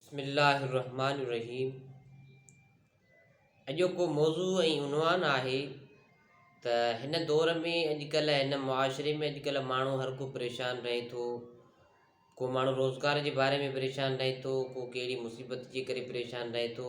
بسم الله الرحمٰن الرحيم اڄوڪو موضوع ۽ عنوان آهي ته هن دور ۾ اڄڪلهه هن معاشري ۾ اڄڪلهه ماڻهو هر ڪو پريشان رهي ٿو ڪو ماڻهو روزگار جي باري ۾ پريشان رهي ٿو ڪو ڪهڙي مصيبت جي ڪري پريشان رهي ٿو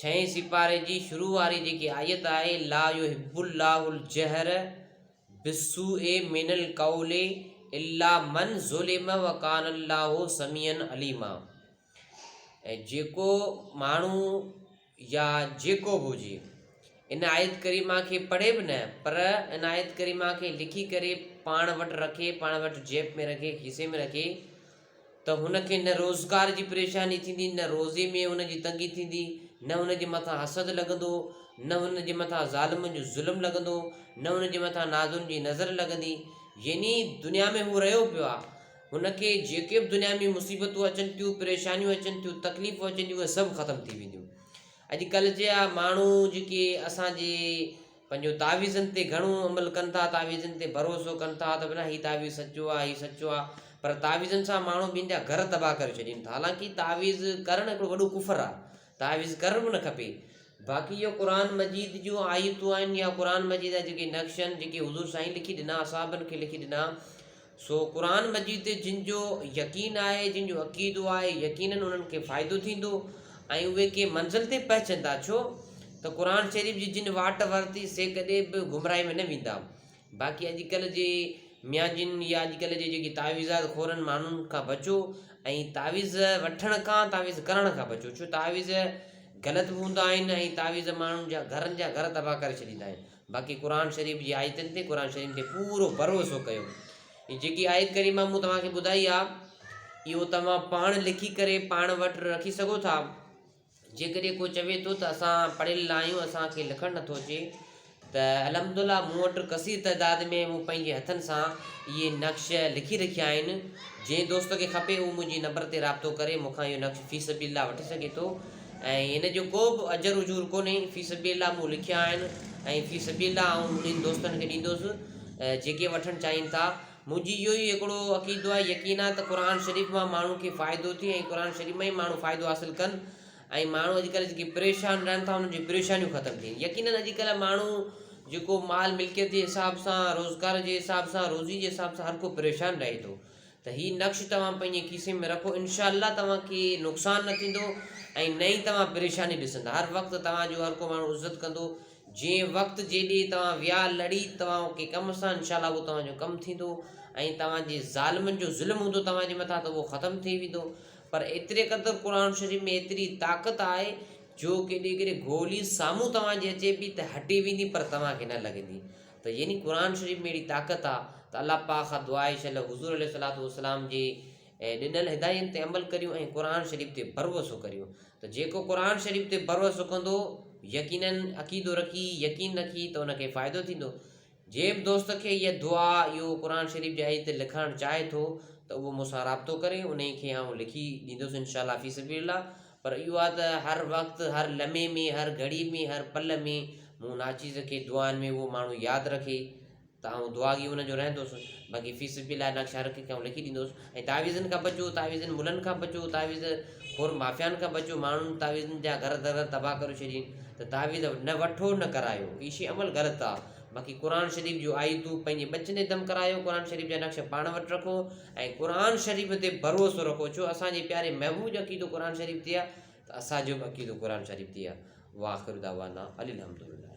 ڇهين سيپاري جي شروع واري جيڪي آيت آهي، لا يحب الله الجهر بالسوء من القول الا من ظلم وڪان الله سميعا عليما ۽ جيڪو ماڻهو يا جيڪو به هجي ان آيت ڪريمه کي پڙهي به نه پر ان آيت ڪريمه کي لکي ڪري پاڻ وٽ رکي پاڻ وٽ جيب ۾ رکي کيسي ۾ رکي ته هن کي نه روزگار جي پريشاني ٿيندي، نه روزي ۾ هن جي تنگي ٿيندي، نه هن جي مٿان حسد لڳندو، نه هن جي مٿان ظالمن جو ظلم لڳندو، نه هن جي مٿان ناظرن جي نظر لڳندي. يعني دنيا ۾ هو رهيو پيو آهي، هن کي جيڪي به دنيا ۾ مصيبتون اچن ٿيون، پريشانيون اچن ٿيون، تڪليفون اچن ٿيون، اهي سڀ ختم ٿي وينديون. اڄڪلهه جا ماڻهو جيڪي اسان جي پنهنجو تعويذن تي گهڻو عمل ڪن ٿا تعويذن تي ڀروسو ڪن ٿا ته نه هي تعويذ سچو آهي هي سچو آهي پر تعويذن سان ماڻهو ٻين جا گهر تباهه ڪري ڇڏين ٿا حالانڪه تعويذ ڪرڻ هڪڙو وڏو ڪفر آهي تعويذ ڪرڻ به نه کپي باقي اهو قرآن مجيد جون آيتون آهن يا قرآن مجيد جا جيڪي نقش آهن جيڪي حضور سائين لکي ڏنا اصحابن کي لکي ڏنا سو قرآن مجيد تي جن جو يقين آهي، جن جو عقيدو آهي، يقيناً انهن کي فائدو ٿيندو ۽ اهي ڪنهن منزل تي پهچندا، ڇو ته قرآن شريف جي جن واٽ ورتي سي ڪڏهن به گمراهي ۾ نه ويندا. باقي اڄڪلهه جي ميان جن يا اڄڪلهه جي جيڪي تعويذات خورن ماڻهن کان بچو ۽ تعويذ وٺڻ کان تعويذ ڪرڻ کان بچو ڇو تعويذ غلط به هوندا آهن ۽ تعويذ ماڻهن جا گهرن جا گهر تباهه ڪري ڇڏيندا آهن. باقي قرآن شريف جي آيتن تي قرآن شريف تي پورو ڀروسو ڪيو هي جيڪي آيت ڪريمه مون توهان کي ٻڌائي آ اهو توهان پاڻ لکي ڪري پاڻ وٽ رکي سگهو ٿا جيڪڏهن ڪو چوي ٿو ته اسان پڙهيل نه آهيون اسانکي لکڻ نٿو اچي ته الحمدلله مون وٽ کثير تعداد ۾ مون پنهنجي هٿن سان اهي نقش لکي رکيا آهن جنهن دوست کي کپي اهو منهنجي نمبر تي رابطو ڪري مون کان اهو نقش في سبيل الله وٺي سگهي ٿو ۽ ان جو ڪو به اجر اجور ڪونهي، في سبيل الله مون لکيا آهن ۽ في سبيل الله آئون منهنجن دوستن کي ڏيندوس جيڪي وٺڻ چاهين ٿا. منهنجي اهو ئي هڪڙو عقيدو آهي يقين آهي ته قرآن شريف مان ماڻهو کي فائدو ٿئي ۽ قرآن شريف مان ئي ماڻهو فائدو حاصل ڪن ۽ ماڻهو اڄ ڪلهه جيڪي پريشان رهن ٿا انهن جون پريشانيون ختم ٿين يقينن اڄ ڪلهه ماڻهو جيڪو مال ملڪيت جي حساب سان روزگار جي حساب سان روزي جي حساب سان هر ڪو پريشان رهي ٿو ته هي نقش توهان پنهنجي کيسي ۾ رکو انشاء الله توهان کي نقصان نه ٿيندو ۽ نه ئي توهان پريشاني ڏسندا هر وقت توهان جو هر ڪو ماڻهو عزت ڪندو جي وقت جي ڏي توهان ويا لڙي توهان ڪي ڪم سان انشاء الله اهو توهان جو ڪم ٿيندو ۽ توهان جي ظالمن جو ظلم هوندو توهان جي مٿان ته اهو ختم ٿي ويندو پر ايتري قدر قرآن شريف ۾ ايتري طاقت آهي جو ڪيڏي ڪيڏي گولي سامهون توهان جي اچي پي ته هٽي ويندي پر توهان کي نه لڳندي ته يعني قرآن شريف ۾ اهڙي طاقت آ ته الله پاڪ کان دعا آهي ڇل حضور عليه الصلوة والسلام جي ڏنل هداين تي عمل ڪريون ۽ قرآن شريف تي ڀروسو ڪريون ته جيڪو قرآن شريف تي ڀروسو ڪندو يقينن عقيدو رکي يقين رکي ته ان کي فائدو ٿيندو جنهن به دوست کي اها دعا اهو قرآن شريف جي آيت لکائڻ چاهي ٿو ته اهو مون سان رابطو ڪري انهي کي آئون لکي ڏيندس انشاء الله في سبيل الله پر اهو آهي ته هر وقت، هر لمحي ۾، هر گهڙي ۾، هر پل ۾ مون ناچيز کي دعائن ۾ اهو ماڻهو ياد رکي ته آئون دعاڳي ان جو رهندس. باقي في سبيل الله نقش هر هڪ کي آئون لکي ڏيندس. ۽ تعويذن کان بچو، تعويذن ملن کان بچو، تعويذ خور مافيائن کان بچو، ماڻهن تعويذن جا گهر در تباهه ڪري ڇڏين ته تعويذ نه وٺو نه ڪرايو، هي شي عمل غلط آهي. باقي قرآن شريف جون آيتون پنهنجي ٻچن جي دم ڪرايو، قرآن شريف جا نقش پاڻ وٽ رکو. ۽ قرآن شريف تي ڀروسو رکو ڇو اسان جي پياري محبوب جو عقيدو قرآن شريف تي آهي ته اسان جو به عقيدو قرآن شريف تي آهي واخر دعوانا ان الحمدلله